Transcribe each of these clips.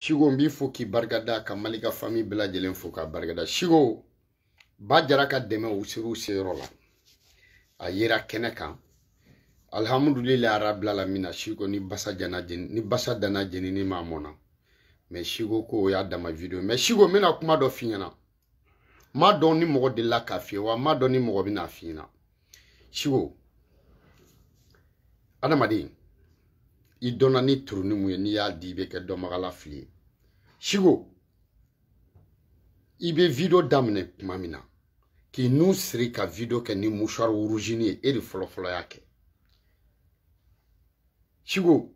Siko n b'i fo k'i barikada ka Mali ka fami bɛɛ lajɛlen fo k'a barikada Siko ba jara ka dɛmɛ u sera u seyɔrɔ la a yera kɛnɛ kan alihamudulilayi arabilalamina Siko ni basa jana jeni ni basa dana jenini ma mɔna mɛ Siko ko o y'a dama video mɛ Siko n bɛna kuma dɔ f'i ɲɛna m'a dɔn ni mɔgɔ delila k'a f'i ye wa n m'a dɔn ni mɔgɔ bɛna a f'i ɲɛna siko adamaden i dɔnna ni turuni min ye n'i y'a di i bɛ kɛ dɔnbagala fili ye siko i bɛ video daminɛ tuma min na k'i nun siri ka video kɛ ni mouchoir rougenin ye e de fɔlɔfɔlɔ y'a kɛ siko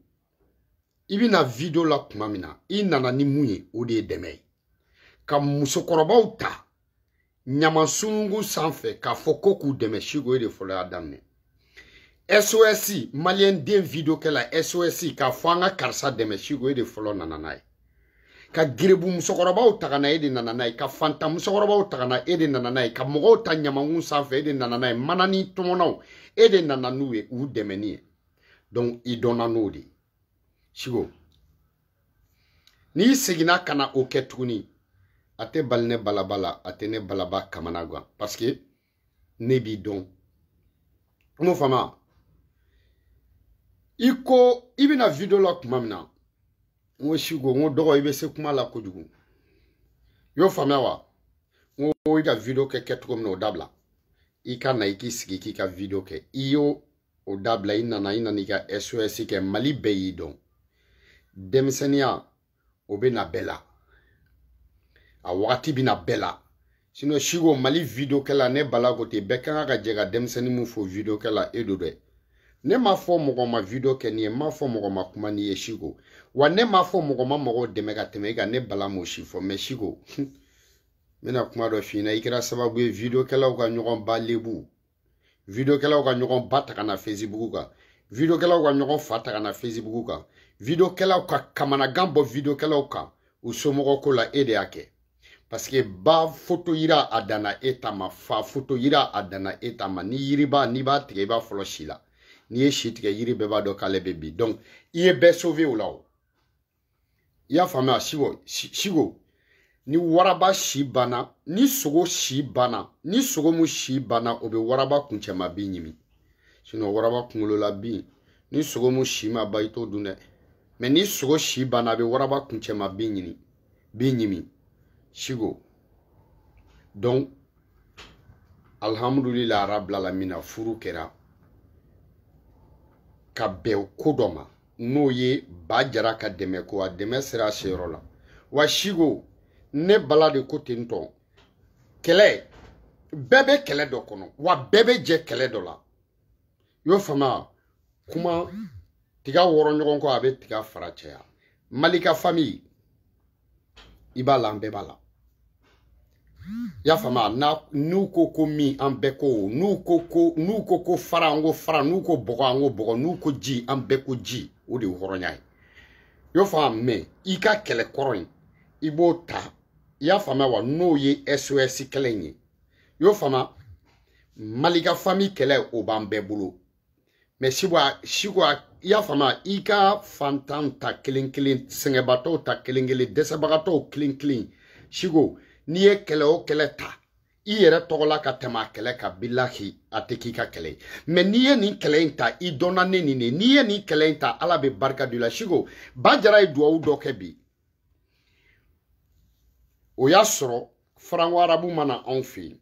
i bɛ na video la tuma min na i nana ni mun ye o de ye dɛmɛ ye ka musokɔrɔbaw ta ɲaman sununkun sanfɛ k'a fɔ ko k'u dɛmɛ siko e de fɔlɔ y'a daminɛ sos maliyɛn den video kɛla sos k'a fɔ an ka karisa dɛmɛ siko e de fɔlɔ nana n'a ye ka garibu musokɔrɔbaw ta ka na e de nana n'a ye ka fantan musokɔrɔbaw ta ka na e de nana n'a ye ka mɔgɔw ta ɲamankun sanfɛ e de nana n'a ye manani tɔmɔnaw e de nana n'u ye u dɛmɛni ye donc i dɔnna n'o de siko n'i seginna ka na o kɛ tuguni a tɛ bali ne balaba la a tɛ ne balaba kamanagan parce que ne b'i dɔn i m'o faamuya i ko i bɛ na video la tuma min na n ko siko n ko dɔgɔ i bɛ se kuma la kojugu i y'o faamuya wa n ko i ka video kɛ kɛcogo min na o dabila i ka na i k'i sigi k'i ka video kɛ i y'o o dabila i nana i nana i ka sos kɛ mali bɛɛ y'i dɔn denmisɛnninya o bɛ na bɛɛ la a wagati bɛ na bɛɛ la sinɔn siko mali videokɛla ne bala ko ten bɛɛ ka kan ka jɛ ka denmisɛnnin nin fo videokɛla e don dɛ ne m'a fɔ mɔgɔ ma video kɛ n'i ye n m'a fɔ mɔgɔ ma kuma n'i ye siko wa ne m'a fɔ mɔgɔ ma mɔgɔw dɛmɛ ka tɛmɛ i kan ne bala m'o si fɔ mɛ siko n bɛna kuma dɔ f'i ɲɛna i kɛra sababu ye videokɛlaw ka ɲɔgɔn ba lebu videokɛlaw ka ɲɔgɔn ba ta ka na fesibugu kan videokɛlaw ka ɲɔgɔn fa ta ka na fesibugu kan videokɛlaw ka kamanagan bɔ videokɛlaw kan u somɔgɔ ko la e de y'a kɛ paseke ba foto yira a danna e ta ma fa foto yira a danna e ta ma ni yiriba n'i b'a tigɛ i b'a fɔlɔ si la n'i ye si tigɛ yiri bɛɛ b'a dɔn k'ale bɛ bin donc i ye bɛɛ sauver o la o i y'a faamuya siko siko ni waraba si banna ni sogo si banna ni sogo mu si banna o bɛ waraba kuncɛma bin ɲimi sinɔn waraba kunkolola bin ni sogo mu si ma ban i t'o dun dɛ mɛ ni sogo si banna a bɛ waraba kuncɛma bin ɲini bin ɲimi siko donc alhamdulila arabilalamina furu kɛra ka bɛn ko dɔ ma n'o ye ba jara ka dɛmɛ ko a dɛmɛ sera a seyɔrɔ la wa siko ne bala de ko ten tɔn kɛlɛ bɛɛ bɛ kɛlɛ dɔ kɔnɔ wa bɛɛ bɛ jɛ kɛlɛ dɔ la y'o faamuya kuma tiga wɔrɔ ɲɔgɔn kɔ a bɛ tiga fara caya mali ka fami i b'a la an bɛɛ b'a la i y'a faamu n'u ko ko min an bɛɛ ko n'u ko ko n'u ko ko fara an ko fara n'u ko bɔgɔ an ko bɔgɔ n'u ko ji an bɛɛ ko ji o de ye hɔrɔnya ye i y'o faamu mɛ i ka kɛlɛ kɔrɔ in i b'o ta i y'a faamuya wa n'o ye sos kɛlɛ in ye i y'o faamuya mali ka fami kɛlɛ o b'an bɛɛ bolo mɛ siwa siwa i y'a faamu i ka fantan ta kelen kelen sɛgɛnbatɔw ta kelen kelen dɛsɛbagatɔw kelen kelen siko n'i ye kɛlɛ o kɛlɛ ta i yɛrɛ tɔgɔla ka tɛmɛ a kɛlɛ kan bilahi a tɛ k'i ka kɛlɛ ye mɛ n'i ye nin kɛlɛ in ta i dɔnna ne nin de n'i ye nin kɛlɛ in ta ala bɛ barika don i la siko ba jara ye duwawu dɔ kɛ bi o y'a sɔrɔ faranko arabu ma na anw fɛ yen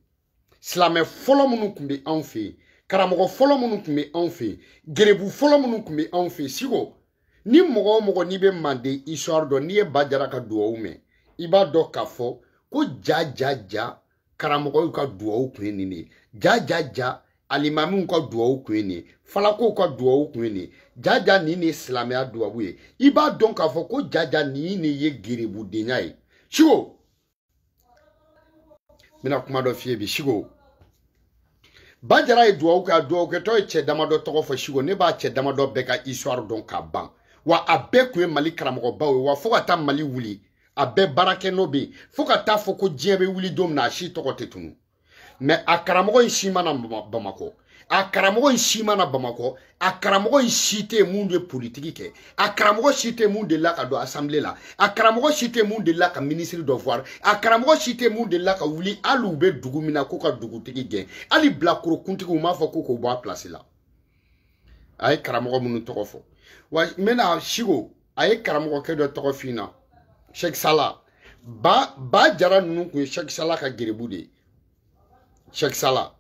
silamɛ fɔlɔ minnu tun bɛ anw fɛ yen karamɔgɔ fɔlɔ minnu tun bɛ anw fɛ yen gerebu fɔlɔ minnu tun bɛ anw fɛ yen siko ni mɔgɔ o mɔgɔ n'i bɛ manden histoire dɔn n'i ye ba jara ka duwawu mɛn i b'a dɔn k'a fɔ ko ja ja ja karamɔgɔw ka duwawu kun ye nin de ye ja ja ja alimamiw ka duwawu kun ye nin ye falakow ka duwawu kun ye nin ye ja ja nin de ye silamɛya duwawu ye i b'a dɔn k'a fɔ ko ja ja nin de ye gerebudenya ye siko n bɛna kuma dɔ f'i ye bi siko ba jara ye duwawu kɛ a duwawukɛtɔ ye cɛ damadɔ tɔgɔ fɔ siko ne b'a cɛ damadɔ bɛɛ ka histoire dɔn k'a ban wa a bɛɛ tun ye mali karamɔgɔbaw ye wa fo ka taa mali wuli a bɛɛ baara kɛ nɔ bɛ yen fo ka t'a fɔ ko diɲɛ bɛ wuli don min na a si tɔgɔ tɛ tunu mɛ a karamɔgɔ in si ma na bamakɔ a karamɔgɔ in si ma na bamakɔ a karamɔgɔ in si tɛ min bɛ politiki kɛ a karamɔgɔ si tɛ min delila ka don asanbile la a karamɔgɔ si tɛ min delila ka minisiri dɔ voir a karamɔgɔ si tɛ min delila ka wuli hali u bɛ dugu min na k'u ka dugutigi gɛn hali bilakoro kuntigi u m'a fɔ ko k'o bɔ a pilasi la a ye karamɔgɔ minnu tɔgɔ fɔ wa n bɛna siko a ye karamɔgɔkɛ dɔ tɔgɔ f'i ɲɛna sɛki sala ba ba jara ninnu kun ye sɛki sala ka gerebu de ye sɛki sala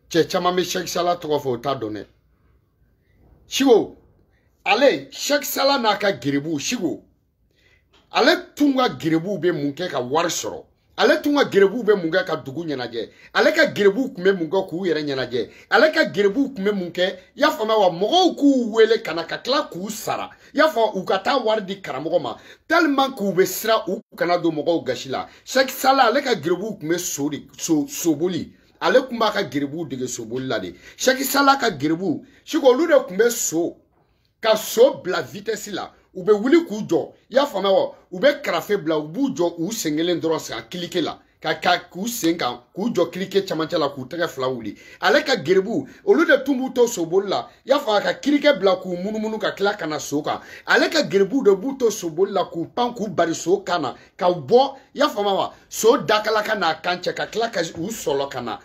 cɛ caman bɛ sɛki sala tɔgɔ fɔ o t'a dɔn dɛ siko ale sɛki sala n'a ka gerebu siko ale tun ka gerebuw bɛ mun kɛ ka wari sɔrɔ ale tun ka gerebuw bɛ mun kɛ ka dugu ɲɛnajɛ ale ka gerebuw tun bɛ mun kɛ k'u yɛrɛ ɲɛnajɛ ale ka gerebuw tun bɛ mun kɛ i y'a faamuya wa mɔgɔw k'u wele ka na ka tila k'u sara i y'a fɔ u ka taa wari di karamɔgɔ ma tellement k'u bɛ siran u kana don mɔgɔw gasi la sɛki sala ale ka gerebuw tun bɛ so de so soboli ale tun b'a ka gerebuw dege soboli la de sɛki sala ka gerebuw siko olu de tun bɛ so ka so bila vitɛsi la u bɛ wuli k'u jɔ i y'a faamuya wa u bɛ karafe bila u b'u jɔ u sen kelen dɔrɔn sen ka kirikɛ la ka ka k'u sen kan k'u jɔ kirikɛ camancɛ la k'u tɛgɛ fila wuli ale ka gerebuw olu de tun b'u to soboli la i y'a faamuya ka kirikɛ bila k'u munumunu ka tila ka na so kan ale ka gerebuw de b'u to soboli la k'u pan k'u bari so kan na ka bɔ i y'a faamuya wa so dakala ka n'a kan cɛ ka tila ka u sɔlɔ ka na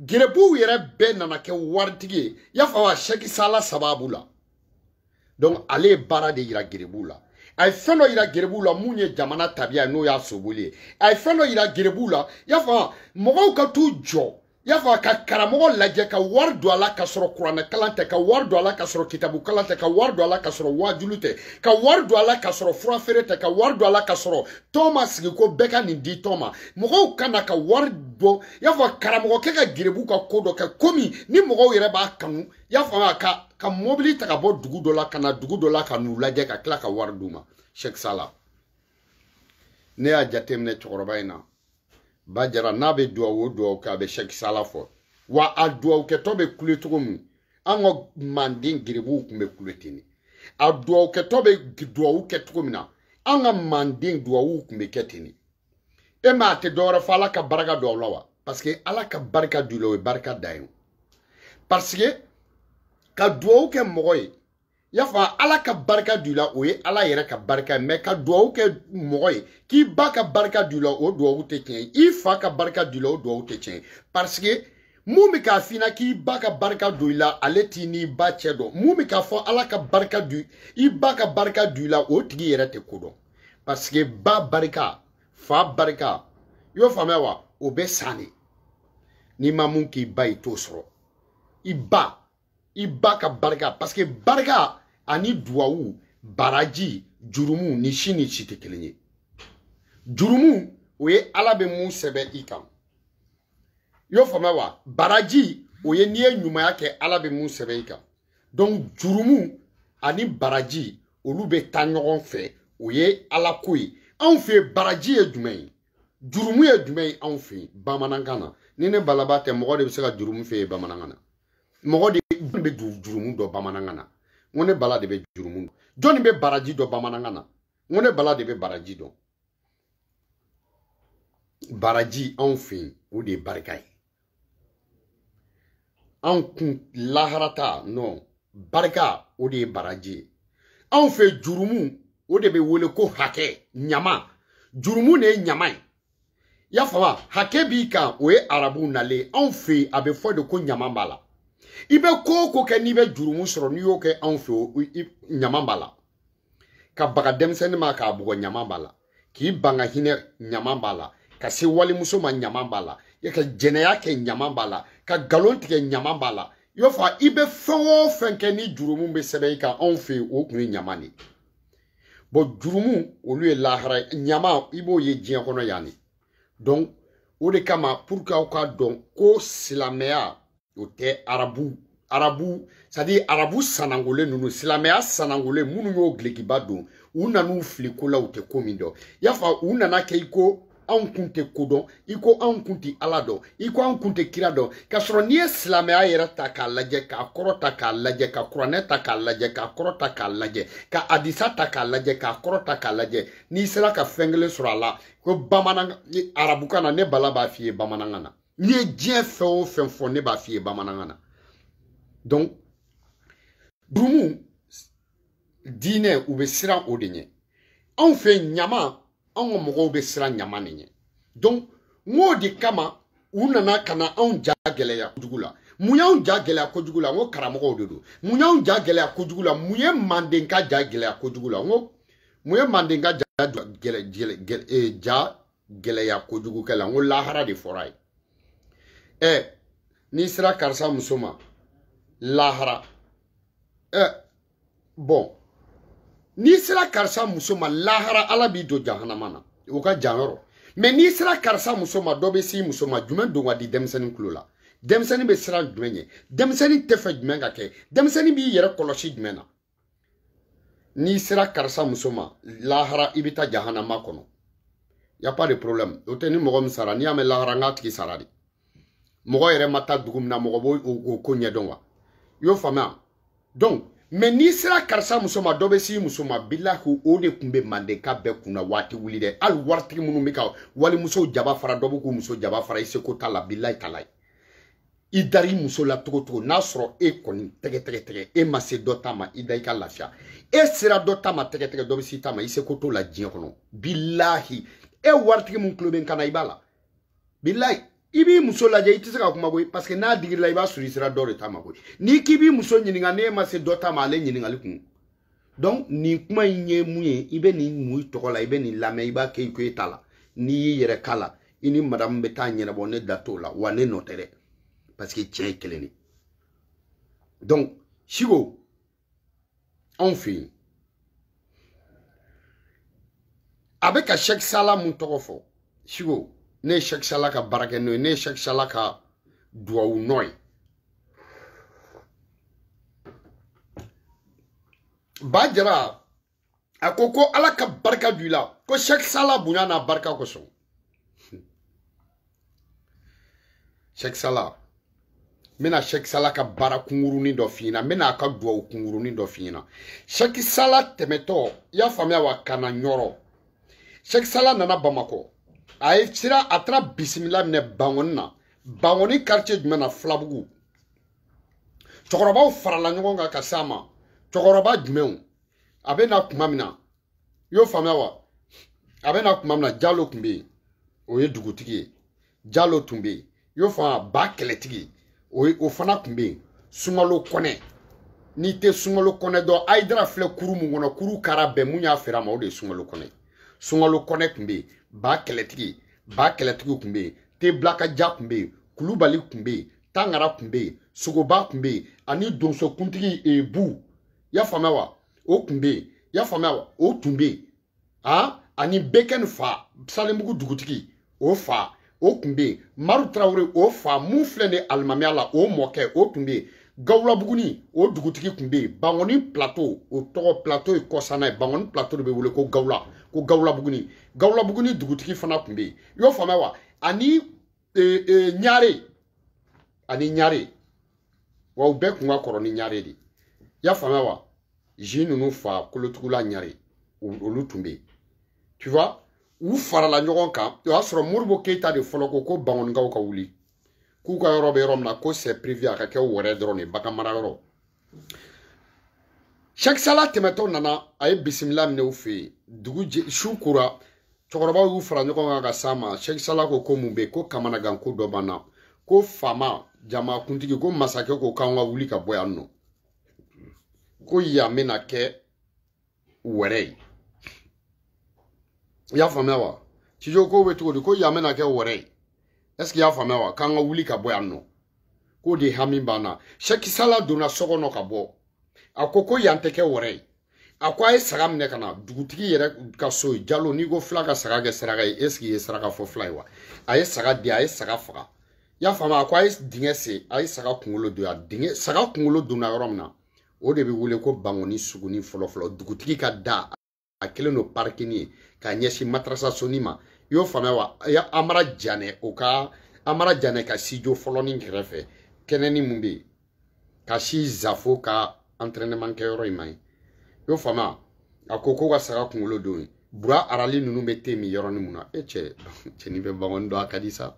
gɛrɛbuw yɛrɛ bɛɛ nana kɛ waritigi ye y'a faamu wa sɛki sala sababu la donc ale ye baara de yira gɛrɛbuw la a ye fɛn dɔ yira gɛrɛbuw la mun ye jamana tabiya ye n'o ye soboli ye a ye fɛn dɔ yira gɛrɛbuw la y'a fɔ mɔgɔw ka t'u jɔ y'a fɔ ka karamɔgɔ lajɛ ka wari don a la ka sɔrɔ kuranɛ kalan tɛ ka wari don a la ka sɔrɔ kitabu kalan tɛ ka wari don a la ka sɔrɔ waajuli tɛ ka wari don a la ka sɔrɔ fura feere tɛ ka wari don a la ka sɔrɔ tɔn ma sigi ko bɛɛ ka nin di tɔn ma mɔgɔw ka na ka wari bɔ i y'a fɔ karamɔgɔkɛ ka gerebuw ka ko dɔ kɛ komi ni mɔgɔw yɛrɛ b'a kanu i y'a faamuya ka ka mɔbili ta ka bɔ dugu dɔ la ka na dugu dɔ la ka n'u lajɛ ka tila ka wari d'u ma sɛki sala ne y'a jateminɛ cɛkɔrɔba in na ba jara n'a bɛ duwawu o duwawu kɛ a bɛ sɛki sala fɔ wa a duwawu kɛtɔ bɛ kule cogo min an ka manden gerebuw tun bɛ kule ten de a duwawu kɛtɔ bɛ duwawu kɛ cogo min na an ka manden duwawu tun bɛ kɛ ten de e m'a tɛ dɔwɛrɛ fɔ ala ka barika don aw la wa parce que ala ka barika don i la o ye barika dan ye parce que ka duwawu kɛ mɔgɔ ye y'a fɔ ala ka barika don i la o ye ala yɛrɛ ka barika ye mais ka duwawu kɛ mɔgɔ ye k'i ba ka barika don i la o duwawu tɛ tiɲɛ ye i fa ka barika don i la o duwawu tɛ tiɲɛ ye parce que mun bɛ k'a f'i ɲɛna k'i ba ka barika don i la ale t'i n'i ba cɛ dɔn mun bɛ k'a fɔ ala ka barika don i ba ka barika don i la o tigi yɛrɛ tɛ ko dɔn parce que ba barika fa barika i y'o faamuya wa o bɛ san de n'i ma mun k'i ba i t'o sɔrɔ i ba i ba ka barika parce que barika ani duwawu baraji jurumu nin si ni si tɛ kelen ye jurumu o ye ala bɛ mun sɛbɛn i kan i y'o faamuya wa baraji o ye n'i ye ɲumanya kɛ ala bɛ mun sɛbɛn i kan donc jurumu ani baraji olu bɛ taa ɲɔgɔn fɛ o ye alako ye anw fɛ yen baraji ye jumɛn ye jurumu ye jumɛn ye anw fɛ yen bamanankan na ni ne balaba tɛ mɔgɔ de bɛ se ka jurumu f'i ye bamanankan na mɔgɔ de bɛ jurumu dɔn bamanankan na n ko ne bala de bɛ jurumu dɔn jɔnni bɛ baraji dɔn bamanankan na n ko ne bala de bɛ baraji dɔn baraji anw fɛ yen o de ye barika ye anw kun lahara ta non barika o de ye baraji ye anw fɛ jurumu o de bɛ wele ko hakɛ ɲama jurumu de ye ɲama ye y'a faamu hakɛ b'i kan o ye arabu nalen anw fɛ yen a bɛ fɔ de ko ɲama b'a la i bɛ ko o ko kɛ n'i bɛ jurumu sɔrɔ n'i y'o kɛ anw fɛ yen ɲama b'a la ka baga denmisɛnnin ma k'a bugɔ ɲama b'a la k'i ban ka hinɛ ɲama b'a la ka se walimuso ma ɲama b'a la ka jɛnɛya kɛ ɲama b'a la ka nkalon tigɛ ɲama b'a la i b'a fɔ i bɛ fɛn o fɛn kɛ ni jurumu bɛ sɛbɛn i kan anw fɛ yen o kun ye ɲama de ye jurumu olu ye lahara ɲama i b'o ye diɲɛ kɔnɔ yan de o de kama pour que aw k'a dɔn ko silamɛya o tɛ arabu arabu c'est-à-dire arabu sanangolen ninnu silamɛya sanangolen minnu ye dulɔkiba don u nan'u fili ko la u tɛ ko min dɔn y'a fa u nana kɛ i ko anw kun tɛ ko dɔn i ko anw kun tɛ ala dɔn i ko anw kun tɛ kira dɔn k'a sɔrɔ n'i ye silamɛya yɛrɛ ta k'a lajɛ k'a kɔrɔ ta k'a lajɛ ka kuranɛ ta k'a lajɛ k'a kɔrɔ ta k'a lajɛ ka hadisa ta k'a lajɛ k'a kɔrɔ ta k'a lajɛ n'i sera ka fɛn kelen sɔrɔ a la ko bamanankan arabukan na ne bala b'a f'i ye bamanankan na n'i ye diɲɛ fɛn o fɛn fɔ ne b'a f'i ye bamanankan na donc jurumu diinɛ u bɛ siran o de ɲɛ anw fɛ ɲama anw ka mɔgɔw bɛ siran ɲama de ɲɛ donc n k'o de kama u nana ka na anw ja gɛlɛya kojugu la mun y'anw ja gɛlɛya kojugu la n ko karamɔgɔw de don mun y'anw ja gɛlɛya kojugu la mun ye mandenka ja gɛlɛya kojugu la n ko mun ye mandenka ja ja gɛlɛya kojugu la n ko lahara de fɔr'a ye ɛ n'i sera karisa muso ma lahara ɛ bon n'i sera karisa muso ma lahara ala b'i don jahanama na o ka jan yɔrɔ mais n'i sera karisa muso ma dɔ bɛ s'i muso ma jumɛn don ka di denmisɛnnin tulo la denmisɛnnin bɛ siran jumɛn ɲɛ denmisɛnnin t'a fɛ jumɛn ka kɛ denmisɛnnin b'i yɛrɛ kɔlɔsi jumɛn na n'i sera karisa muso ma lahara i bɛ taa jahanama kɔnɔ y a pas de problème o tɛ ni mɔgɔ min sara n'i y'a mɛn lahara n k'a tigi sara de mɔgɔ yɛrɛ ma taa dugu min na mɔgɔ b'o ko ɲɛdɔn wa i y'o faamuya donc mais n'i sera karisa muso ma dɔ bɛ s'i muso ma bilahi o de kun bɛ mandenka bɛɛ kunna waati wuli dɛ hali waritigi minnu bɛ ka walimuso jaba fara dɔ bɛ k'u muso jaba fara i seko t'a la bilahi talahi i dara i muso la cogo cogo n'a sɔrɔ e kɔni tɛgɛ tɛgɛ tɛgɛ e ma se dɔ ta ma i da i ka lafiya e sera dɔ ta ma tɛgɛ tɛgɛ dɔ bɛ s'i ta ma i seko t'o la diɲɛ kɔnɔ bilahi e waritigi min tulo bɛ n kan na i b'a la bilahi i b'i muso lajɛ i tɛ se ka kuma koyi parce que n'a digir'i la i b'a sɔrɔ i sera dɔ de ta ma koyi n'i k'i b'i muso ɲininka n'e ma se dɔ ta ma ale ɲininkali kun donc nin kuma in ye mun ye i bɛ nin mun tɔgɔ la i bɛ nin lamɛn i b'a kɛ i ko e t'a la n'i y'i yɛrɛ k'a la i ni madamu bɛ taa ɲɛnabɔ ne da t'o la wa ne nɔ tɛ dɛ parce que tiɲɛ ye kelen de donc siko anw fɛ yen a bɛ ka sɛki sala mun tɔgɔ fɔ siko ne ye sɛki sala ka baarakɛ nɔ ye ne ye sɛki sala ka duwawu nɔ ye ba jara a ko ko ala ka barika don i la ko sɛki sala bonya n'a barika kosɔn sɛki sala n bɛna sɛki sala ka baara kunkurunin dɔ f'i ɲɛna n bɛna a ka duwawu kunkurunin dɔ f'i ɲɛna sɛki sala tɛmɛtɔ i y'a faamuya wa ka na ɲɔrɔ sɛki sala nana bamakɔ a ye sira a taara bisimila minɛ bangɔni na bangoni quartier jumɛn na filabugu cɛkɔrɔbaw farala ɲɔgɔn kan ka s'a ma cɛkɔrɔba jumɛnw a bɛ na kuma min na i y'o faamuya wa a bɛ na kuma min na jalo tun bɛ yen o ye dugutigi ye jalo tun bɛ yen i y'o faamuya ba kɛlɛtigi o ye o fana tun bɛ yen sunkalo kɔnɛ n'i tɛ sunkalo kɔnɛ dɔn ayidara filɛ kuru mun kɔnɔ kuru kara bɛɛ mun y'a feere a ma o de ye sunkalo kɔnɛ sunkalo kɔnɛ tun bɛ yen ba kɛlɛtigi ba kɛlɛtigi tun bɛ yen tebilakaja tun bɛ yen kulubali tun bɛ yen tangara tun bɛ yen sogoba tun bɛ yen ani donsokuntigi ebu eh, y'a faamuya wa o tun bɛ yen y'a faamuya wa o tun bɛ yen han ah, ani bekɛni fa salenbugu dugutigi o fa o tun bɛ yen maru tarawele o fa mun filɛ nin alimamiya la o mɔkɛ o tun bɛ yen gawula buguni o dugutigi tun bɛ yen bangoni plateau o tɔgɔ plateau ye kɔsanna ye bangoni plateau de bɛ wele ko gawula ko gawula buguni gawula buguni dugutigi fana tun bɛ yen i y'o faamuya wa ani e, e, ɲare ani ɲare wa u bɛɛ tun ka kɔrɔ ni ɲare de i y'a faamuya wa zi ninnu fa kolotugula ɲare olu tun bɛ yen tu vois u farala ɲɔgɔn kan o y'a sɔrɔ modibo keyita de fɔlɔ ko ko bangɔnikaw ka wuli k'u ka yɔrɔ bɛ yɔrɔ min na ko c'est prévu a ka kɛ wɛrɛ dɔrɔn de bagan mara yɔrɔ sɛki sala tɛmɛtɔ nana a ye bisimila minɛ u fɛ yen dugu jɛ su kora cɛkɔrɔbaw y'u fara ɲɔgɔn kan ka s'a ma sɛki sala ko ko mun bɛ ko kamanagan ko dɔ b'an na ko faama jamakuntigi ko masakɛ ko k'an ka wuli ka bɔ yan nɔ ko yan bɛna kɛ wɛrɛ ye i y'a faamuya wa cijo ko bɛ cogo di ko yan bɛna kɛ wɛrɛ ye est-ce i y'a faamuya wa k'an ka wuli ka bɔ yan nɔ k'o de hami b'an na sɛki sala donna so kɔnɔ ka bɔ a ko ko yan tɛ kɛ wɛrɛ ye a ko a ye saga minɛ ka na dugutigi yɛrɛ ka so ye jalo n'i ko fila ka saga kɛ saraka ye est-ce i ye saraka fɔ fila ye wa a ye saga di a ye saga faga i y'a faamu a ko a ye dingɛ sen a ye saga kunkolo don a dingɛ saga kunkolo donna yɔrɔ min na o de bɛ wele ko bangɔni sugunin fɔlɔfɔlɔ dugutigi ka da a kɛlen don parikini ye ka ɲɛsin madarasa sonin ma i y'o faamuya wa amara janɛ o ka amara janɛ ka sijo fɔlɔnin kɛrɛfɛ kɛnɛnin min bɛ yen ka si zafo ka entraînement kɛyɔrɔ in ma ye i y'o faamuya a ko ko ka saga kunkolo don yen bura arali ninnu bɛ te min yɔrɔnin min na e cɛ cɛnin bɛ bangɔni dɔn a ka di sa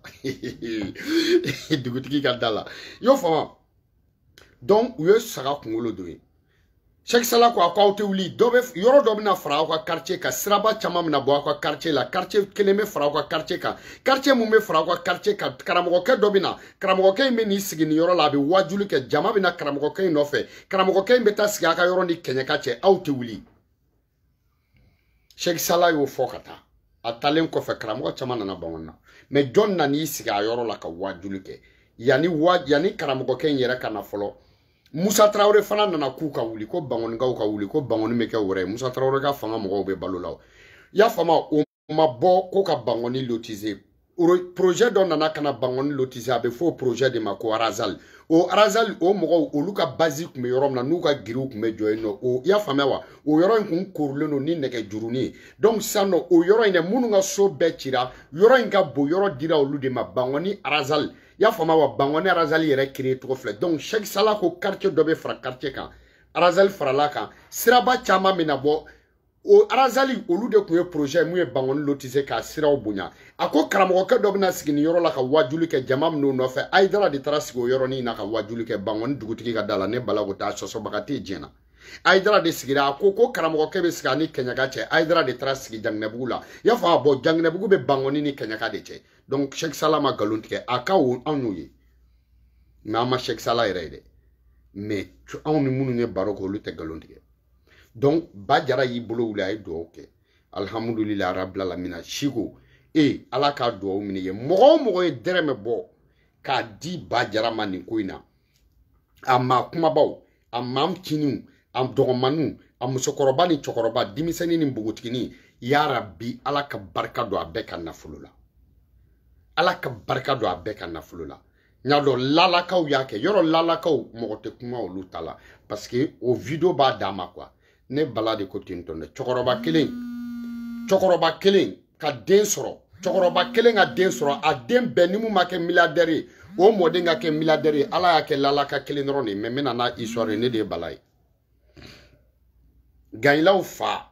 dugutigi ka da la i y'o faamuya donc u ye saga kunkolo don yen sɛki sala ko a ko aw tɛ wuli dɔ bɛ yɔrɔ dɔ bɛna fara aw ka quartier kan siraba caman bɛna bɔ aw ka quartier la quartier kelen bɛ fara aw ka quartier kan quartier mun bɛ fara aw ka quartier kan karamɔgɔkɛ dɔ bɛ na karamɔgɔkɛ in bɛ n'i sigi nin yɔrɔ la a bɛ waajuli kɛ jama bɛ na karamɔgɔkɛ in nɔfɛ karamɔgɔkɛ in bɛ taa sigi aw ka yɔrɔ ni kɛɲɛka cɛ aw tɛ wuli Cheikh Salah y'o fɔ ka taa a taalen kɔfɛ karamɔgɔ caman nana bangɔni na mais jɔn nana i sigi a yɔrɔ la ka waajuli kɛ yanni wa yanni karamɔgɔkɛ in yɛrɛ ka na fɔlɔ musa tarawele fana nana k'u ka wuli ko bangɔnikaw ka wuli ko bangɔni bɛ kɛ wɛrɛ ye musa tarawele ka fanga mɔgɔw bɛ balo la o y'a faamu o ma bɔ ko ka bangɔni lotize projet dɔ nana ka na bangɔni lotize a bɛ fɔ o projet de ma ko arazali o arazali o mɔgɔw olu ka bazi tun bɛ yɔrɔ min na n'u ka giriw tun bɛ jɔ yen nɔ o i y'a faamuya wa o yɔrɔ in tun koorilen don ni nɛgɛ jurunin ye donc sisan nɔ o yɔrɔ in dɛ minnu ka so bɛɛ cira yɔrɔ in ka bon yɔrɔ dira olu de ma bangɔni arazali i y'a faamuya wa bangɔni arazali yɛrɛ kiri cogo filɛ donc sɛki sala ko quartier dɔ bɛ fara quartier kan arazali farala a kan siraba caman bɛ na bɔ o arazali olu de tun ye projet min ye bangɔni lotize k'a siraw bonya a ko karamɔgɔkɛ dɔ bɛna sigi nin yɔrɔ la ka wajuli kɛ jama bɛ n'a nɔfɛ ayidara de taara sigi o yɔrɔnin na ka wajuli kɛ bangɔni dugutigi ka da la ne bala ko o ta sɔsɔbaga tɛ diɲɛ na ayidara de sigira a ko ko karamɔgɔkɛ bɛ sigi a ni kɛɲɛka cɛ ayidara de taara sigi janginɛbugu la i y'a fɔ a bɔ janginɛbugu bɛ bangɔni ni kɛɲɛka de cɛ donc sɛki sala ma nkalon tigɛ a ka ko anw y'o ye nka an ma sɛki sala yɛrɛ ye dɛ mais anw ni minnu ye baro kɛ olu tɛ nkalon tigɛ donc ba jara y'i bolo wuli a ye dugawu kɛ alihamudulilayi rabil alamina siko e ala ka dugawu minɛ ye mɔgɔ o mɔgɔ ye dɛrɛmɛ bɔ k'a di ba jara ma nin ko in na a maa kunbabaw a maa cininw a dɔgɔmanninw a musokɔrɔba ni cɛkɔrɔba denmisɛnnin ni npogotiginin yarabi ala ka barika don a bɛɛ ka nafolo la ala ka barika don a bɛɛ ka nafolo la n y'a dɔn lalakaw y'a kɛ yɔrɔ lalakaw mɔgɔ tɛ kuma olu ta la parce que o video b'a danma quoi ne bala de ko ten tɔn dɛ cɛkɔrɔba kelen cɛkɔrɔba kelen ka den sɔrɔ cɛkɔrɔba kelen ka den sɔrɔ a den bɛɛ ni min ma kɛ milliardaire ye o mɔden ka kɛ milliardaire ye ala y'a kɛ lalaka kelen dɔrɔn de ye mais n bɛna n'a histoire ye ne de ye bala ye gayilaw fa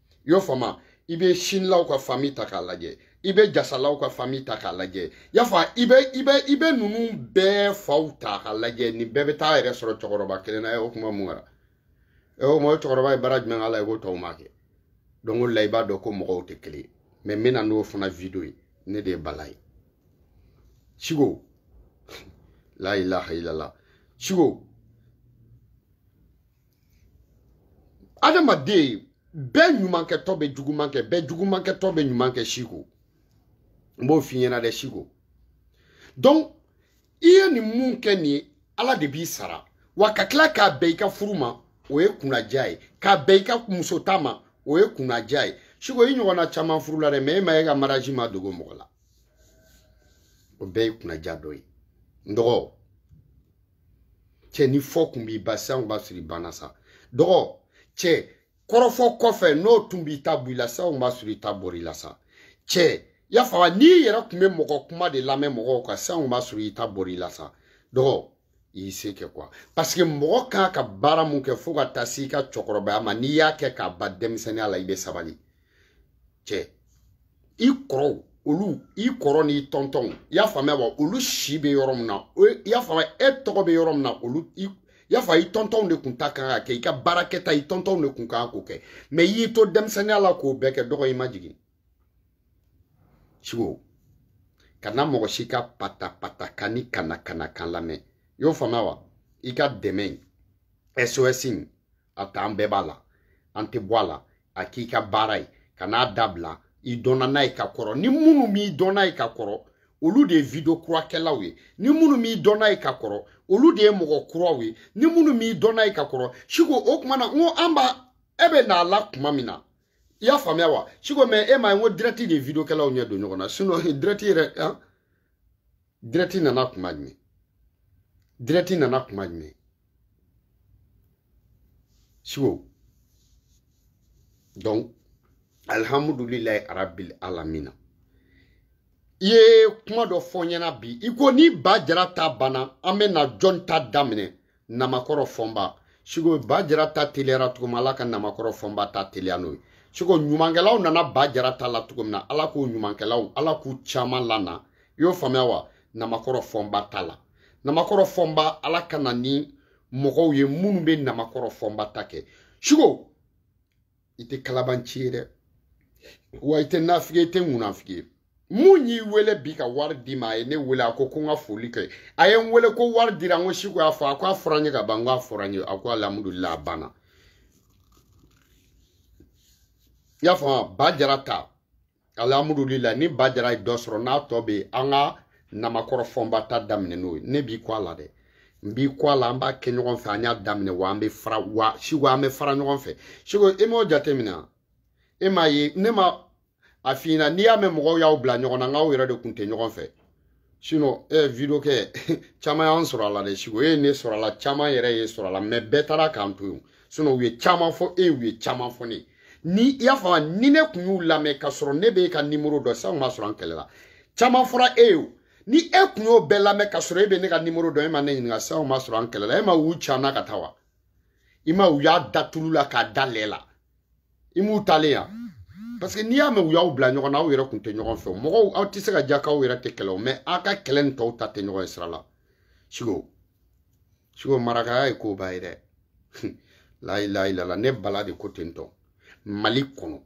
i y'o faamuya i bɛ sinilaw ka fami ta k'a lajɛ i bɛ jasalaw ka fami ta k'a lajɛ y'a fɔ i bɛ i bɛ i bɛ ninnu bɛɛ faw ta k'a lajɛ nin bɛɛ bɛ taa yɛrɛ sɔrɔ cɛkɔrɔba kelen na o kuma mun kɛra o kuma cɛkɔrɔba ye baara jumɛn k'a la i ko tɔw m'a kɛ donc o la i b'a dɔn ko mɔgɔw tɛ kelen ye mɛ n bɛna n'o fana video ye ne de ye bala ye siko la ilaha illallah siko adamaden bɛɛ ɲumankɛtɔ bɛ juguman kɛ bɛɛ jugumankɛtɔ bɛ ɲuman kɛ siko n b'o f'i ɲɛna dɛ siko donc i ye nin min kɛ nin ye ala de b'i sara wa ka tila k'a bɛn i ka furu ma o ye kunnaja ye k'a bɛn i ka musota ma o ye kunnaja ye siko i ɲɔgɔnna caman furula dɛ mɛ e ma e ka mariage ma dogo mɔgɔ la o bɛɛ ye kunnaja dɔ ye n dɔgɔ cɛ ni fɔ kun b'i ban sisan b'a sɔrɔ i banna sa dɔgɔcɛ kɔrɔfɔ kɔfɛ n'o tun b'i ta bɔ i la sisan b'a sɔrɔ i ta bɔr'i la sa cɛ y'a faamu n'i yɛrɛ tun bɛ mɔgɔ kuma de lamɛn mɔgɔw kan sisan b'a sɔrɔ i ta bɔr'i la sa dɔgɔ i y'i se kɛ kuwa paseke mɔgɔ kan ka baara mun kɛ fo ka taa se i ka cɛkɔrɔbaya ma n'i y'a kɛ k'a ban denmisɛnninya la i bɛ sabali cɛ i kɔrɔw olu i kɔrɔ n'i tɔntɔnw i y'a faamuya wa olu si bɛ yɔrɔ min na i y'a faamuya e tɔgɔ bɛ yɔrɔ min na olu i y'a fɔ i tɔntɔnw de kun ta kan ka kɛ i ka baarakɛta i tɔntɔnw de kun kan k'o kɛ mɛ i y'i to denmisɛnninya la k'o bɛɛ kɛ dɔgɔ i majigin siko kana mɔgɔ si ka patapata kan ni kana kana kan lamɛn i y'o faamuya wa i ka dɛmɛ in sos in a ta an bɛɛ b'a la an tɛ bɔ a la a k'i ka baara ye kan'a dabila i dɔnna n'a ye ka kɔrɔ ni minnu m'i dɔn n'a ye ka kɔrɔ olu de ye video kurakɛlaw ye ni minnu m'i dɔn n'a ye ka kɔrɔ olu de ye mɔgɔ kuraw ye ni minnu m'i dɔn n'a ye ka kɔrɔ siko o tuma na n ko an b'a e bɛ n'a la tuma min na i y'a faamuya wa siko mɛ e m'a ye n ko dirɛti de ye videokɛlaw ɲɛ don ɲɔgɔn na sinɔn dirɛti yɛrɛ dirɛti nana kuma jumɛn dirɛti nana kuma jumɛn siko donc alihamudulilayi arabil alamina i ye kuma dɔ fɔ ɲɛna bi i ko ni ba jara ta banna an bɛ na jɔn ta daminɛ namakɔrɔ fɔnba siko ba jara ta teliyara cogo min ala ka namakɔrɔ fɔnba ta teliya n'o ye siko ɲumankɛlaw nana ba jara ta la cogo min na ala k'o ɲumankɛlaw ala k'u caman lana i y'o faamuya wa namakɔrɔ fɔnba ta la namakɔrɔ fɔnba ala ka na ni mɔgɔw ye minnu bɛ namakɔrɔ fɔnba ta kɛ siko i tɛ kalabanci ye dɛ wa i tɛ nafigi i tɛ ŋunafigi ye mun y'i wele bi ka wari d'i ma a ye ne wele a ko ko n ka foli kɛ a ye n wele ko wari dira n ko siko y'a fɔ a ko a fɔra n ye ka ban n ko a fɔra n ye a ko alihamudulila a banna i y'a faamu ba jara ta alihamudulila ni ba jara ye dɔ sɔrɔ n'a tɔ bɛ yen an ka namakɔrɔ fɔnba ta daminɛ n'o ye ne b'i kɔ a la dɛ n b'i kɔ a la an b'a kɛ ɲɔgɔn fɛ an y'a daminɛ wa an bɛ fara wa siko an bɛ fara ɲɔgɔn fɛ siko e m'o jateminɛ e m'a ye ne ma a f'i ɲɛna n'i y'a mɛn mɔgɔw y'aw bila ɲɔgɔn na n k'aw yɛrɛ de kun tɛ ɲɔgɔn fɛ sinon ɛ video kɛ caman y'an sɔrɔ a la dɛ siko e ye ne sɔrɔ a la caman yɛrɛ ye sɔrɔ a la mɛ bɛɛ taara k'an to yen sinon u ye caman fɔ e u ye caman fɔ ne ni i y'a faamu ni ne tun y'u lamɛn ka sɔrɔ ne b'e ka nimoro dɔn sisan ma sɔrɔ an kɛlɛla caman fɔra e ye o ni e tun y'o bɛɛ lamɛn ka sɔrɔ e bɛ ne ka nimoro dɔn e ma ne ɲininka sisan ma sɔrɔ an kɛlɛla e ma u can na ka taa wa i ma u y'a da tulu la k'a da lɛ la i m'u taalen ye parce que n'i y'a mɛn u y'aw bila ɲɔgɔn na aw yɛrɛ kun tɛ ɲɔgɔn fɛ mɔgɔw aw tɛ se ka diya k'aw yɛrɛ tɛ kɛlɛ o mɛ aw ka kɛlɛ ni tɔw ta tɛ ɲɔgɔn ye sira la siko siko marakaya ye koba ye dɛ layilayilala ne bala de ko ten tɔ mali kɔnɔ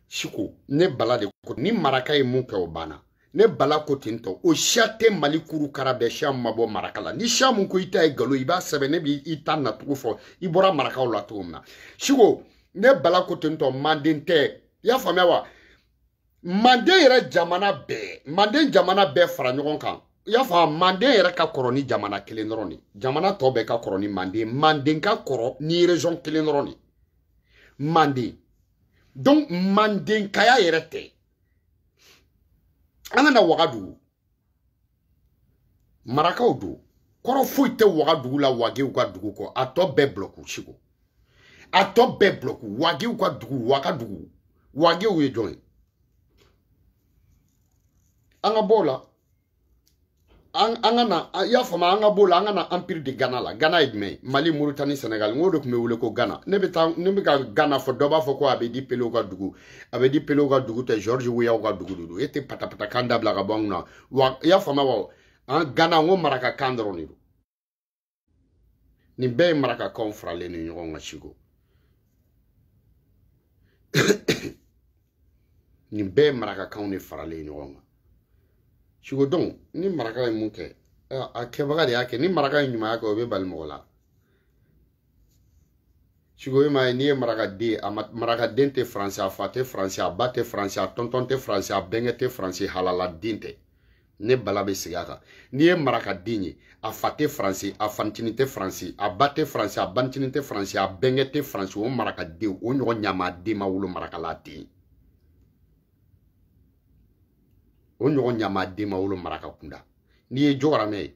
siko ne bala de ko ni maraka ye mun kɛ o banna ne bala ko ten tɔ o siya tɛ mali kuru kara bɛɛ siya ma bɔ maraka la ni siya mun ko i ta ye galon i b'a sɛbɛn ne b'i i ta nacogo fɔ i bɔra marakaw la cogo min na siko ne bala ko ten tɔ manden tɛ i y'a faamuya wa manden yɛrɛ jamana bɛɛ manden jamana bɛɛ fara ɲɔgɔn kan i y'a fɔ manden yɛrɛ ka kɔrɔ ni jamana kelen dɔrɔn de jamana tɔ bɛɛ ka kɔrɔ ni manden manden ka kɔrɔ ni région kelen dɔrɔn de manden donc mandenkaya yɛrɛ tɛ an ka na wagadugu marakaw don kɔrɔ foyi tɛ wagadugu la wagew ka dugu kɔ a tɔ bɛɛ bulɔku siko a tɔ bɛɛ bulɔku wagew ka dugu wagadugu wagew ye jɔn ye an ka bɔ o la an ka na i y'a faamu an ka b'o la an ka na empire de gana la gana ye jumɛn ye mali moritani senegal n k'o de tun bɛ wele ko gana ne bɛ taa ne bɛ ka gana fɔ dɔ b'a fɔ ko abedi pelew ka dugu abedi pelew ka dugu tɛ george weyaw ka dugu de don e tɛ patapatakan dabila ka bɔ an kunna wa i y'a faamu wa an gana n ko marakakan dɔrɔn de don nin bɛɛ ye marakakaw faralen ni ɲɔgɔn kan siko nin bɛɛ ye marakakaw de faralen ɲɔgɔn kan siko dɔn ni maraka ye mun kɛ a kɛbaga de y'a kɛ ni maraka ye ɲumanya kɛ o bɛ bali mɔgɔ la siko e m'a ye n'i ye marakaden ye marakaden tɛ faransi a fa tɛ faransi a ba tɛ faransi a tɔntɔn tɛ faransi a bɛnkɛ tɛ faransi halaladen tɛ ne bala bɛ segin a kan n'i ye marakaden ye a fa tɛ faransi a fanincinin tɛ faransi a ba tɛ faransi a banincinin tɛ faransi a bɛnkɛ tɛ faransi o marakaden o ɲɔgɔn ɲamaden ma wolo marakala dɛ o ɲɔgɔn ɲamaden ma wolo maraka kunda n'i ye jɔgɔramɛ ye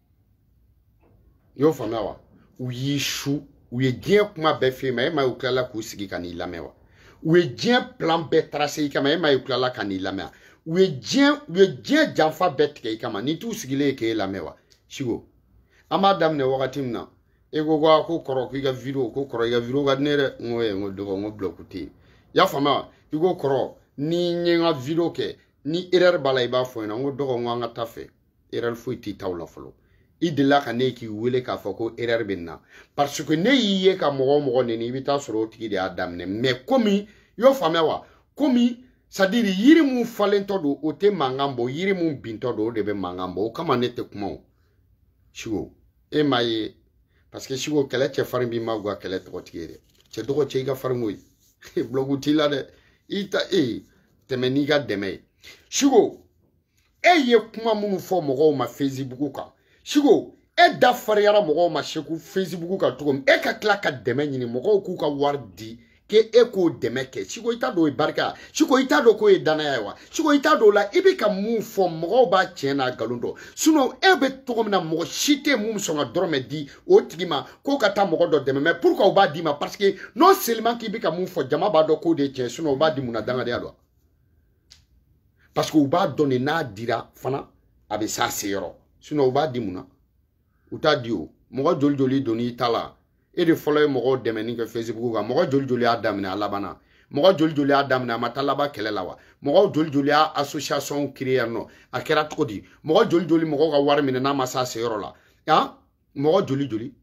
i y'o faamuya wa u y'i su u ye diɲɛ kuma bɛɛ f'e ma e m'a ye u tilala k'u sigi ka n'i lamɛn wa u ye diɲɛ plan bɛɛ tracer i kama e m'a ye u tilala ka n'i lamɛn wa u ye diɲɛ u ye diɲɛ janfa bɛɛ tigɛ i kama n'i t'u sigilen ye k'e lamɛn wa siko an b'a daminɛ wagati min na e ko ko ko kɔrɔ k'i ka video ko kɔrɔ i ka video ka di ne dɛ n ko ye n ko dɔgɔ n ko bulɔku tɛ yen i y'a faamuya wa i ko kɔrɔ ni n ye n ka video kɛ ni erreur b'a la i b'a fɔ n ɲɛna n ko dɔgɔ n ko an ka taa fɛ erreur foyi t'i taw la fɔlɔ i delila ka ne k'i wele k'a fɔ ko erreur bɛ na parce que ne y'i ye ka mɔgɔ o mɔgɔ neni i bɛ taa sɔrɔ o tigi de y'a daminɛ mais komi i y'o faamuya wa komi c'est-à-dire yiri mun falentɔ don o tɛ mankan bɔ yiri mun bintɔ don o de bɛ mankan bɔ o kama ne tɛ kuma o siko e m'a ye parce que siko kɛlɛ cɛfarin b'i ma guwa kɛlɛ tɔgɔtigi ye dɛ cɛ dɔgɔ cɛ i ka farin koyi bulɔku t'i la dɛ i ta e tɛmɛ n'i ka dɛmɛ ye siko e ye kuma minnu fɔ mɔgɔw ma fesibugu kan siko e da fariyara mɔgɔw ma siko fesibugu kan cogo min e ka tila ka dɛmɛ ɲini mɔgɔw k'u ka wari di ke e k'o dɛmɛ kɛ siko i t'a dɔn o ye barika siko i t'a dɔn k'o ye dannaya ye wa siko i t'a dɔn o la i bɛ ka mun fɔ mɔgɔw b'a tiɲɛ n'a nkalon dɔn sinɔn e bɛ cogo min na mɔgɔ si tɛ mun sɔn ka dɔrɔmɛ di o tigi ma k'o ka taa mɔgɔ dɔ dɛmɛ mais pourquoi u b'a d'i ma parce que non seulement k'i bɛ ka mun fɔ jama b'a dɔn k'o de ye tiɲɛ sinɔn u b'a di mun na dangadenya don parce que u b'a dɔn de n'a dira fana a bɛ s'a se yɔrɔ sinɔn u b'a di mun na u t'a di o mɔgɔ joli joli don n'i ta la e de fɔlɔ ye mɔgɔw dɛmɛni kɛ facebook kan mɔgɔ joli joli y'a daminɛ a labanna mɔgɔ joli joli y'a daminɛ a ma taa laban kɛlɛ la wa mɔgɔ joli joli ye association créer yan nɔ a kɛra cogo di mɔgɔ joli joli mɔgɔw ka wari minɛ n'a ma s'a se yɔrɔ la han mɔgɔ joli joli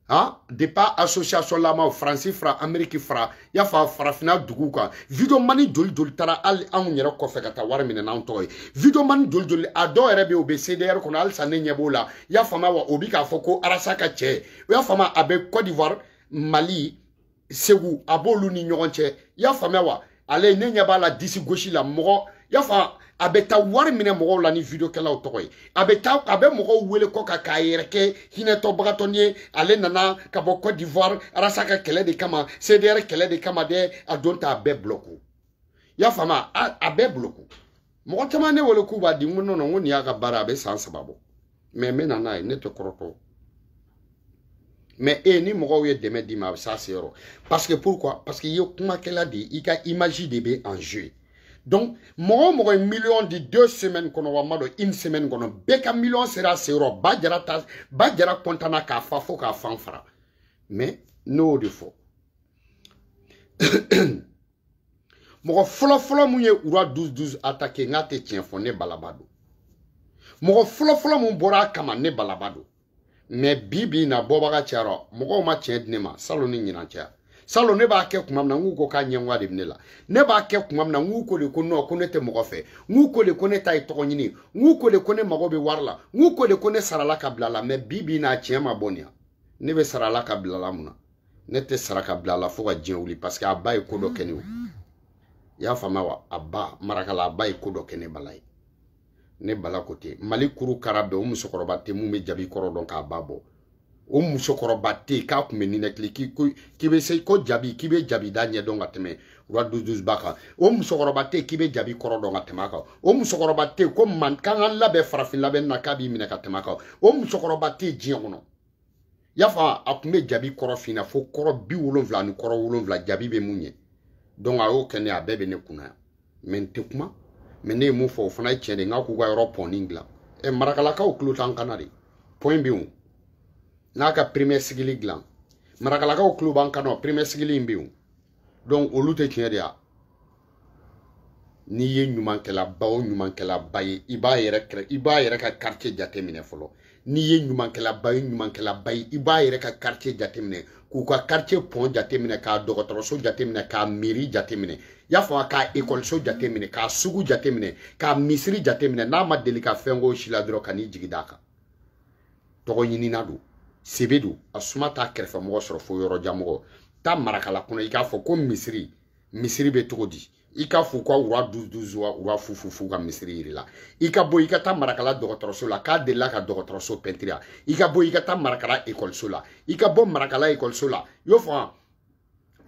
ha de pa association lamaw faransi fara ameriki fara i y'a fara farafinna duguw kan videomani joli joli taara hali anw yɛrɛ kɔfɛ ka taa wari minɛ n'an tɔgɔ ye videomani joli joli a dɔw yɛrɛ bɛ yen u bɛ cdr kɔnɔ halisa ne ɲɛ b'o la i y'a faamuya wa o bi k'a fɔ ko arasi ka cɛ i y'a faamuya a bɛ cote d'ivoire mali segu a b'olu ni ɲɔgɔn cɛ i y'a faamuya wa ale ne ɲɛ b'a la disi gosi la mɔgɔ i y'a faamu a bɛ taa wari minɛ mɔgɔw la ni vidiyokɛlaw tɔgɔ ye a bɛ taa a bɛ mɔgɔw wele kɔ ka k'a yɛrɛ kɛ hinɛtɔbagatɔni ye ale nana ka bɔ cote d'ivoire ras ka kɛlɛ de kama cdr kɛlɛ de kama dɛ a don ta a bɛɛ bulɔku i y'a faamu a bɛɛ bulɔku mɔgɔ caman ne wele k'u b'a di n ko non non n ko nin y'a ka baara a bɛ san saba bɔ mɛ n bɛ na n'a ye ne tɛ kɔrɔtɔ mɛ e ni mɔgɔw ye dɛmɛ d'i ma a bɛ s'a se yɔrɔ parce que pourquoi parce que i ye kumakɛla de ye i ka image de bɛ en jeu donc mɔgɔ o mɔgɔ ye miliyɔn di deux semaines kɔnɔ wa n m'a dɔn une semaine kɔnɔ bɛɛ ka miliyɔn sera a se yɔrɔ ba jara ta ba jara kɔntana k'a fa fo k'a fan fara mɛ ne y'o de fɔ mɔgɔ fɔlɔfɔlɔ mun ye roi 12 12 atake n k'a tɛ tiɲɛ fɔ ne balaba don mɔgɔ fɔlɔfɔlɔ mun bɔra a kama ne balaba don mɛ bi bi in na bɔbaga cayara mɔgɔw ma tiɲɛ di ne ma salon ni ɲinan cɛ ya salon ne b'a kɛ kuma min na n k'u ko k'a ɲɛngoya de bɛ ne la ne b'a kɛ kuma min na n k'u ko de ko nɔ ko ne tɛ mɔgɔ fɛ n k'u ko de ko ne ta ye tɔgɔ ɲini n k'u ko de ko ne mago bɛ wari la n k'u ko de ko ne sarala ka bila a la mɛ bi bi n'a tiɲɛ ma bɔ nin yan ne bɛ sarala ka bila a la mun na ne tɛ sara ka bila a la fo ka diɲɛ wuli paseke a ba ye ko dɔ kɛ ne ye i y'a faamuya wa a ba marakala a ba ye ko dɔ kɛ ne bala ye ne bala ko ten mali kuru kara bɛɛ o musokɔrɔba tɛ mun bɛ jabi kɔrɔ dɔn k'a ba bɔ o musokɔrɔba tɛ yen k'a tun bɛ ninakili k'i bɛ se ko jabi k'i bɛ jabi da ɲɛ dɔn ka tɛmɛ roi 12 12 ba kan o musokɔrɔba tɛ k'i bɛ jabi kɔrɔ dɔn ka tɛmɛ a kan o musokɔrɔba tɛ ko man k'an ka labɛn farafin labɛn na k'a b'i minɛ ka tɛmɛ a kan o musokɔrɔba tɛ diɲɛ kɔnɔ y'a fɔ a tun bɛ jabi kɔrɔ fin na fo kɔrɔ bi wolonwula ani kɔrɔ wolonwula jabi bɛ mun ɲɛ donc a y'o kɛ ne a bɛɛ bɛ ne kun na yan mɛ n tɛ kuma mɛ ne ye mun fɔ o fana ye tiɲɛ de n k'a k'u ka yɔrɔ pɔnni dilan ɛ marakalakaw tulo t'an kan na de pɔn bɛ yen n'a ka premier cycle dilan marakalakaw tulo b'an kan na o premier cycle in bɛ yen donc olu tɛ tiɲɛ de ya n'i ye ɲumankɛlaba o ɲumankɛlaba ye i b'a yɛrɛ kɛrɛ i b'a yɛrɛ ka quartier jateminɛ fɔlɔ n'i ye ɲumankɛlaba ye ɲumankɛlaba ye i b'a yɛrɛ ka quartier jateminɛ k'u ka quartier pɔn jateminɛ k'a dɔgɔtɔrɔso jateminɛ k'a misiri jateminɛ y'a fɔ k'a ekɔliso jateminɛ k'a sugu jateminɛ k'a misiri jateminɛ n'a ma deli ka fɛn k'o si la dɔrɔn kan'i jigi d'a kan tɔgɔɲinina don sebe don a suma t'a kɛrɛfɛmɔgɔ sɔrɔ fo yɔrɔjanmɔgɔ taa marakala kɔnɔ i k'a fɔ ko misiri misiri bɛ cogo di i ka f'u ka roi 12 wa roi fufufu ka misiri yir'i la i ka bɔ i ka taa marakala dɔgɔtɔrɔso la k'a delila ka dɔgɔtɔrɔso pɛntiri ya i ka bɔ i ka taa marakala ekɔliso la i ka bɔ marakala ekɔliso la y'o fɔ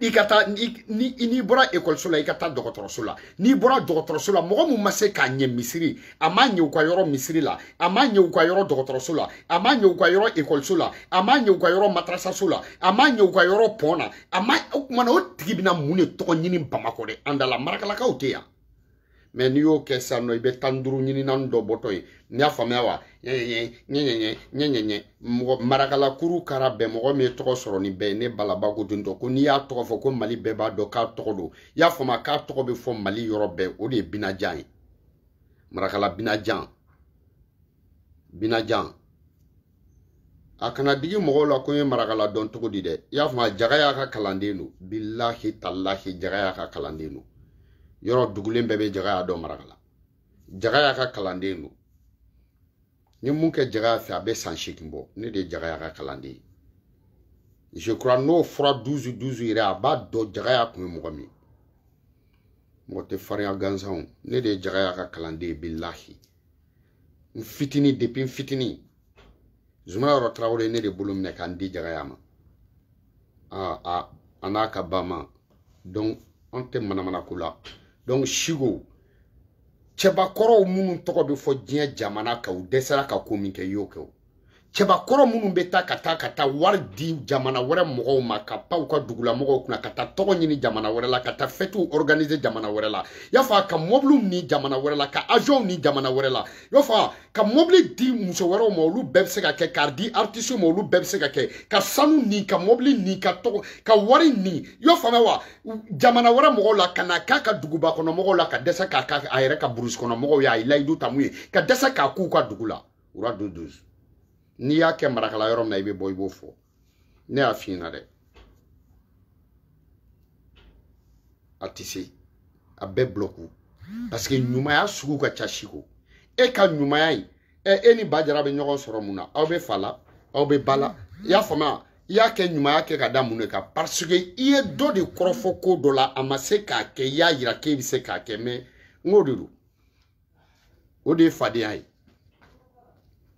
i ka taa n'i bɔra ekɔliso la i ka taa dɔgɔtɔrɔso la n'i bɔra dɔgɔtɔrɔso la mɔgɔ min ma se k'a ɲɛ misiri a m'a ɲɛ u ka yɔrɔ misiri la a m'a ɲɛ u ka yɔrɔ dɔgɔtɔrɔso la a m'a ɲɛ u ka yɔrɔ ekɔliso la a m'a ɲɛ u ka yɔrɔ madarasaso la a m'a ɲɛ u ka yɔrɔ pɔn na a ma o kumana o tigi bɛna mun de tɔgɔ ɲini bamakɔ de an da la marakalakaw tɛ yan mɛ n'i y'o kɛ sisan nɔ i bɛ tan duuru ɲini naani dɔ bɔtɔ ye n y'a faamuya wa ɲɛɲɛɲɛ ɲɛɲɛɲɛ ɲɛɲɛɲɛ mɔgɔ marakalakuru kara bɛɛ mɔgɔ min ye tɔgɔ sɔrɔ ni bɛɛ ye ne balaba ko don tɔ ko n'i y'a tɔgɔ fɔ ko mali bɛɛ b'a dɔn k'a tɔgɔ don i y'a faamuya k'a tɔgɔ bɛ fɔ mali yɔrɔ bɛɛ o de ye binajan ye marakala binajan binajan a kana digi mɔgɔw la ko n ye marakala dɔn cogo di dɛ i y'a faamu wa jagaya ka kalanden don bilahi talahi jagaya ka kalanden don yɔrɔ dugulen bɛɛ bɛ jagaya dɔn marakala jagaya ka kalanden don n ye mun kɛ jagaya fɛ a bɛ san seegin bɔ ne de ye jagaya ka kalanden ye je crois n'o fura duzu duzu yɛrɛ a b'a dɔn jagaya kun ye mɔgɔ min mɔgɔ tɛ farinya gansanw ne de ye jagaya ka kalanden ye bilahi n fitini depuis n fitini zuma yɔrɔ tarawele ne de bolo minɛ ka n di jagaya ma a n'a ka ba ma donc an tɛ manamana ko la donc sigo cɛbakɔrɔw minnu tɔgɔ bɛ fɔ diɲɛ jamana kan u dɛsɛra ka ko min kɛ i y'o kɛ o cɛbakɔrɔ minnu bɛ taa ka taa ka taa wari di jamana wɛrɛ mɔgɔw ma ka pan u ka dugula mɔgɔw kunna ka taa tɔgɔ ɲini jamana wɛrɛ la ka taa fɛtiw organiser jamana wɛrɛ la y'a faamu wa ka mɔbiliw ni jamana wɛrɛ la ka avions ni jamana wɛrɛ la y'a faamu wa ka mɔbili di muso wɛrɛw ma olu bɛɛ bɛ se ka kɛ k'a di artiste ma olu bɛɛ bɛ se ka kɛ ka sanu ni ka mɔbili ni ka tɔgɔ ka wari ni y'a faamuya wa jamana wɛrɛ mɔgɔw la ka na k'a ka duguba kɔnɔ mɔgɔw la ka dɛsɛ k'a kɛ a yɛrɛ ka burusi kɔnɔ mɔgɔw y'a ye layidu ta min ye ka dɛsɛ k'a k'u ka dugu la wura du dusu n'i y'a kɛ marakala yɔrɔ min na i bɛ bɔ i b'o fɔ ne y'a f'i ɲɛna dɛ a tɛ se a bɛɛ bulɔku parce que ɲumanya sugu ka ca siko e ka ɲumanya in ɛ e ni ba jara bɛ ɲɔgɔn sɔrɔ mun na aw bɛ fa la aw bɛ ba la i y'a faamuya i y'a kɛ ɲumanya kɛ ka da mun de kan parce que i ye dɔ de kɔrɔfɔ ko dɔ la a ma se k'a kɛ i y'a yira k'e bɛ se k'a kɛ mɛ n k'o de don o de ye fadenya ye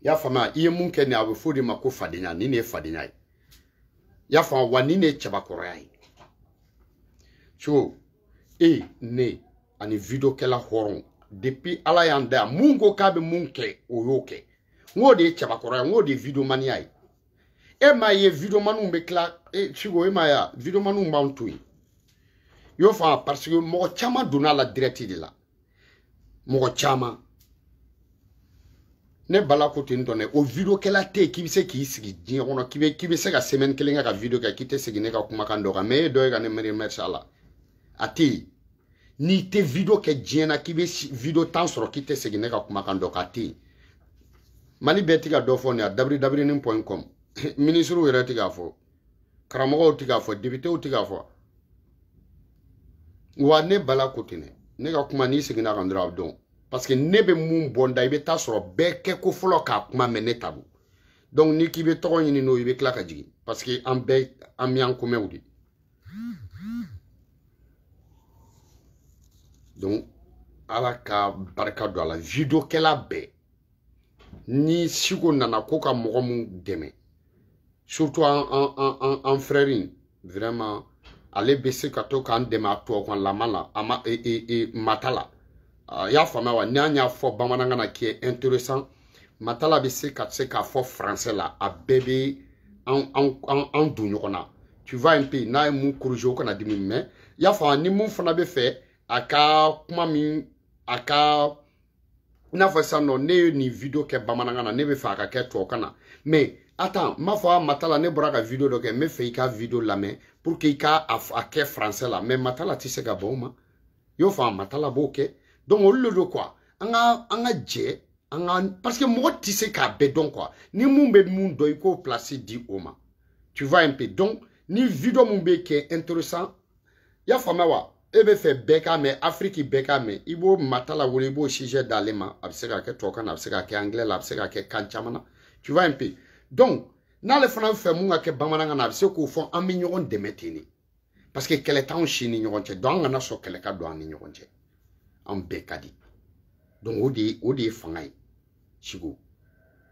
y'a faamuya i ye mun kɛ nin a bɛ fɔ de ma ko fadenya nin de ye fadenya ye y'a faamu wa nin de ye cɛbakɔrɔya ye so e ne ani videokɛla hɔrɔn depuis ala y'an da yan mun ko k'a bɛ mun kɛ o y'o kɛ n k'o de ye cɛbakɔrɔya n k'o de ye videomaniya ye e m'a ye videomaniw bɛ tila e siko e m'a ye videomaniw b'an to yen y'o faamu parce que mɔgɔ caman donna a la dirɛti de la mɔgɔ caman ne bala ko ten tɔ dɛ o video kɛla tɛ yen k'i bɛ se k'i sigi diɲɛ kɔnɔ k'i bɛ k'i bɛ se ka semaine kelen kɛ ka video kɛ k'i tɛ segin ne ka kumakan dɔ kan mɛ e dɔ ye ka ne miiri mɛrisa la a tɛ yen n'i tɛ video kɛ diɲɛ na k'i bɛ video tan sɔrɔ k'i tɛ segin ne ka kumakan dɔ kan a tɛ yen mali bɛɛ ti ka dɔ fɔ nin a dabiri dabirinin point com minisiriw yɛrɛ ti k'a fɔ karamɔgɔw ti k'a fɔ depitew ti k'a fɔ wa ne bala ko ten ne ka kuma n'i seginna kan dɔrɔn a dɔn parce que ne bɛ mun bɔ n da i bɛ taa sɔrɔ bɛɛ kɛ ko fɔlɔ k'a kuma mɛn ne ta don donc n'i k'i bɛ tɔgɔ ɲini n'o i bɛ tila ka jigin parce que an bɛɛ an bɛ an komɛw de donc ala ka barika don a la videokɛla bɛɛ ni siko nana ko ka mɔgɔ mun dɛmɛ surtout an an an an an frère in vraiment ale bɛ se ka to k'an dɛmɛ a tubabukanlama la a ma e e e matala a y'a faamuya wa n'an y'a fɔ bamanankan na qui est intéressant matala bɛ se ka se k'a fɔ français la a bɛɛ bɛ an an an an don ɲɔgɔn na tu vois un peu n'a ye mun corrigé o kana dimi mais y'a faamuya ni mun fana bɛ fɛ a ka kuma min a ka i n'a fɔ sisan nɔ ne ye nin video kɛ bamanankan na ne bɛ fɛ a ka kɛ tubabukan na mais attends n b'a fɔ a matala ne bɔra ka video dɔ kɛ n bɛ fɛ i ka video lamɛn pour que i ka a kɛ français la mais matala tɛ se ka ban o ma i y'o faamu matala b'o kɛ donc olu de don quoi an ka an ka jɛ an ka parce que mɔgɔ tɛ se k'a bɛɛ dɔn quoi ni mun bɛ mun dɔn i k'o place di o ma tu vois un peu donc ni video mun bɛ kɛ intéressant i y'a faamuya wa e bɛ fɛ bɛɛ k'a mɛn afiriki bɛɛ k'a mɛn i bɛ matala wele i b'o sijɛ d'ale ma a bɛ se ka kɛ tubabukan na a bɛ se ka kɛ angilɛ la a bɛ se ka kɛ kan caman na tu vois un peu donc n'ale fana bɛ fɛ mun ka kɛ bamanankan na a bɛ se k'o fɔ an bɛ ɲɔgɔn dɛmɛ ten de parce que kɛlɛ t'anw si ni ɲɔgɔn cɛ donc an kana sɔn kɛlɛ ka don an ni ɲɔgɔn cɛ anw bɛɛ ka di donc o de ye o de ye fanga ye Chico.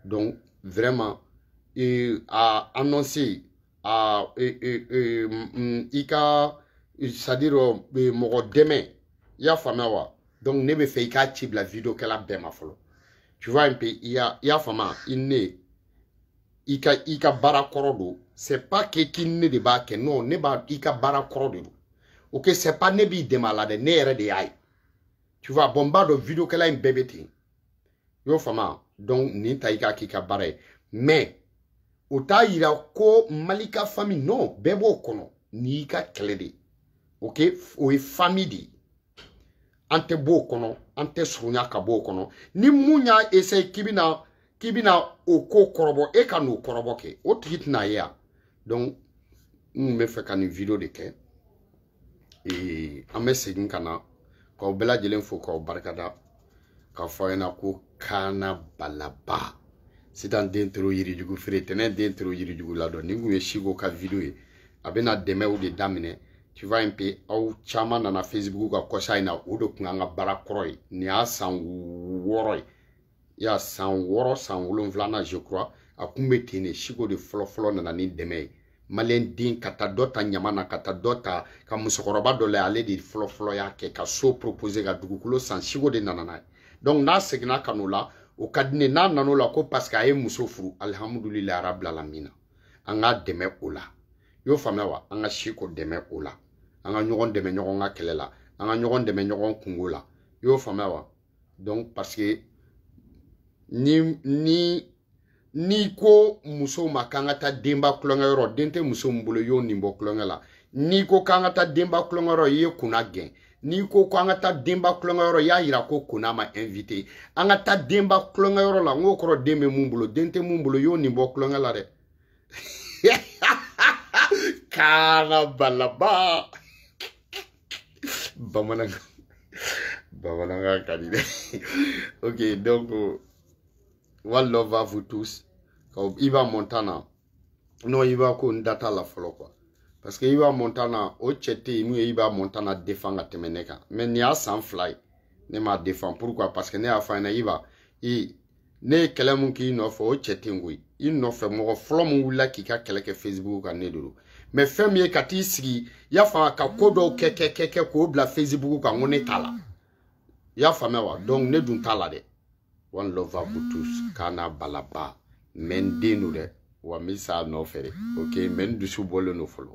Donc, vraiment, e y'a annoncer à et, et, et, mm, i ka c'est-à-dire euh, mɔgɔ dɛmɛ i y'a faamuya wa donc ne bɛ fɛ i ka ci bila video kɛla bɛɛ ma fɔlɔ tu vois un peu i y'a i y'a faamuya i ne i ka i ka baara kɔrɔ don c'est pas que k'i ne de b'a kɛ non ne b'a i ka baara kɔrɔ de don ok c'est pas ne b'i dɛmɛ a la dɛ ne yɛrɛ de y'a ye tu vois bon n b'a dɔn video kɛla in bɛɛ bɛ ten i y'o faamuya donc nin ta i k'a k'i ka baara ye mais o t'a yira ko mali ka fami non bɛɛ b'o kɔnɔ n'i ka kɛlɛ de ok o ye fami de ye an tɛ b'o kɔnɔ an tɛ surunya ka b'o kɔnɔ ni mun y'a essaye k'i bɛna k'i bɛna o ko kɔrɔbɔ e ka n'o kɔrɔbɔ kɛ o tigi tɛna ye yan donc n tun bɛ fɛ ka nin video de kɛ ee an bɛ segin ka na k'aw bɛɛ lajɛlen fo k'aw barikada k'a fɔ aw ɲɛna ko kaana balaba sitan den toro yirijugu feere tɛnɛ den toro yirijugu ladɔn nin kun ye siko ka video ye a bɛna dɛmɛw de daminɛ tu vois un peu aw caman nana facebook kan kɔsa in na o de kun y'an ka baara kɔrɔ ye nin y'a san wɔɔrɔ ye y'a san wɔɔrɔ san wolonfilana je crois a kun bɛ ten de siko de fɔlɔfɔlɔ nana ni dɛmɛ ye maliyɛn den ka taa dɔ ta ɲama na ka taa dɔ ta ka musokɔrɔba dɔ la ale de fɔlɔfɔlɔ y'a kɛ ka so propose ka dugukolo san siko de nana n'a ye donc n'a seginna ka n'o la o ka di n ye n'a nan'o la ko parce que a ye muso furu alihamudulilayi arabi alamina an k'a dɛmɛ o la i y'o faamuya wa an ka siko dɛmɛ o la an ka ɲɔgɔn dɛmɛ ɲɔgɔn ka kɛlɛ la an ka ɲɔgɔn dɛmɛ ɲɔgɔn kunko la i y'o faamuya wa donc parce que ni ni n'i ko musow ma k'an ka taa denba kulonkɛ yɔrɔ den tɛ muso min bolo y'o nin bɔ kulonkɛ la n'i ko k'an ka taa denba kulonkɛ yɔrɔ i ye kona gɛn n'i ko ko an ka taa denba kulonkɛ yɔrɔ i y'a yira ko kona ma invite an ka taa denba kulonkɛ yɔrɔ la n k'o kɔrɔ den bɛ mun bolo den tɛ mun bolo y'o nin bɔ kulonkɛ la dɛ kana balaba bamanankan bamanankan ka di dɛ ok donc one love à vous tous ka iba montana non iba ko n da t'a la fɔlɔ quoi parce que iba montana o cɛ tɛ yen mun ye iba montana défend ka tɛmɛ ne kan mais nin y'a san fila ye ne m'a défend pourquoi parce que ne y'a fɔ a ɲɛna iba i ne ye kɛlɛ mun k'i nɔfɛ o cɛ tɛ yen koyi i nɔfɛ mɔgɔ fɔlɔ mun wulila k'i ka kɛlɛ kɛ facebook kan ne de don mais fɛn min ye ka t'i sigi y'a faamuya ka ko dɔw kɛ kɛ kɛ kɛ k'o bila facebook kan ko ne t'a la y'a faamuya wa donc ne dun t'a la dɛ one love à vous tous kana balaba mais n den don dɛ wa n bɛ sa a nɔfɛ de ok mais n dusu bɔlen don fɔlɔ